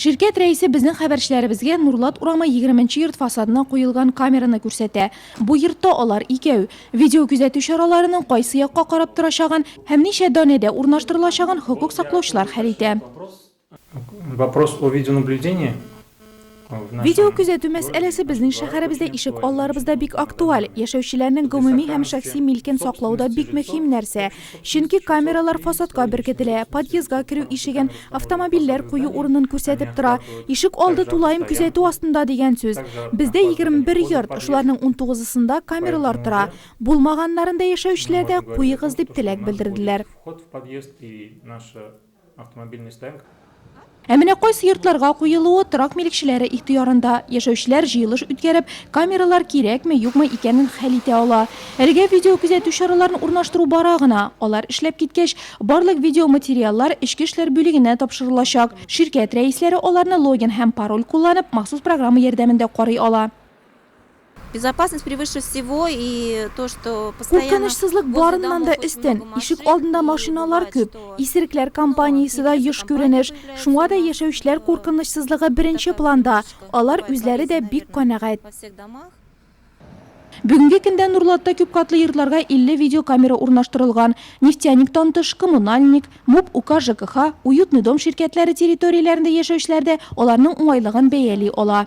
Ширкәт рәисе безнең хәбәрчеләребезгә Нурлат урамы егерменче йорт фасадына куелган камераны күрсәтә. Бу йортта алар икәү. Видеокүзәтү чараларының кайсы якка карап торачагын һәм ничә данәдә урнаштырылачагын хокук саклаучылар хәл итә. Вопрос о видеонаблюдении. Видеокөзәтү мәсьәләсе безнең шәһәребездә ишек алларыбызда бик актуаль. Яшәүчеләрнең гомуми һәм шәхси милкен саклау да бик мөһим нәрсә. Чөнки камералар фасадка беркетелә, подъездга керү ишеген, автомобильләр кую урынын күрсәтеп тора. Ишек алды тулаем күзәтү астында дигән сүз. Бездә 21 йорт, шуларның унтугызысында камералар тора. Булмаганнарында яшәүчеләр дә, куегыз, дип теләк белдерделәр. Ә менә кайсы йортларга куелуы торак милекчеләре ихтыярында. Яшәүчеләр җыелыш үткәреп, камералар кирәкме, юкмы икәнен хәл итә ала. Әлегә видеокүзәтү чараларын урнаштыру бара гына. Алар эшләп киткәч, барлык видеоматериаллар Эчке эшләр бүлегенә тапшырылачак. Ширкәт рәисләре аларны логин һәм пароль кулланып, махсус программа ярдәмендә карый ала. Безопасность превыше всего и то, что постоянно Куркынычсызлык барыннан да өстен. Ишек алдында машиналар күп. Исерекләр компаниясе дә еш күренеш. Шуңа да яшәүчеләр куркынычсызлыгы беренче планда. Алар үзләре дә бик канәгать. Бүгенге көндә Нурлатта күп катлы йортларга 50 видеокамера урнаштырылган. Нефтяниктан тыш, Коммунальник, МУП, УК ЖКХ, Уютный дом ширкәтләре территорияләрендә яшәүчеләр дә аларның уңайлыгын бәяли ала.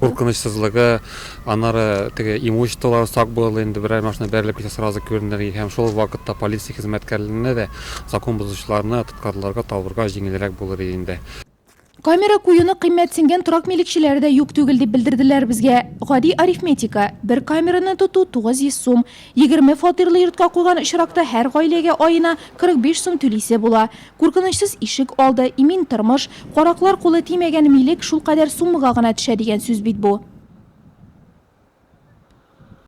Куркынычсызлыгы, аннары теге имуществолары сак булырлык инде, берәр машина бәрелеп китсә сразу күренер иде һәм шул ук вакытта полиция хезмәткәрләренә дә закон бозучыларны тоткарларга, табырга җиңелрәк булыр иде инде. Камера куюны кыйммәтсенгән торак милекчеләре дә юк түгел, дип белдерделәр безгә. Гади арифметика, бер камераны тоту, 900 сум. Егерме фатирлы йортка куйган очракта һәр гаиләгә аена 45 сум түлисе була. Куркынычсыз ишек алды, имин тормыш, караклар кулы тимәгән милек шулкадәр суммага гына төшә дигән сүз бит бу.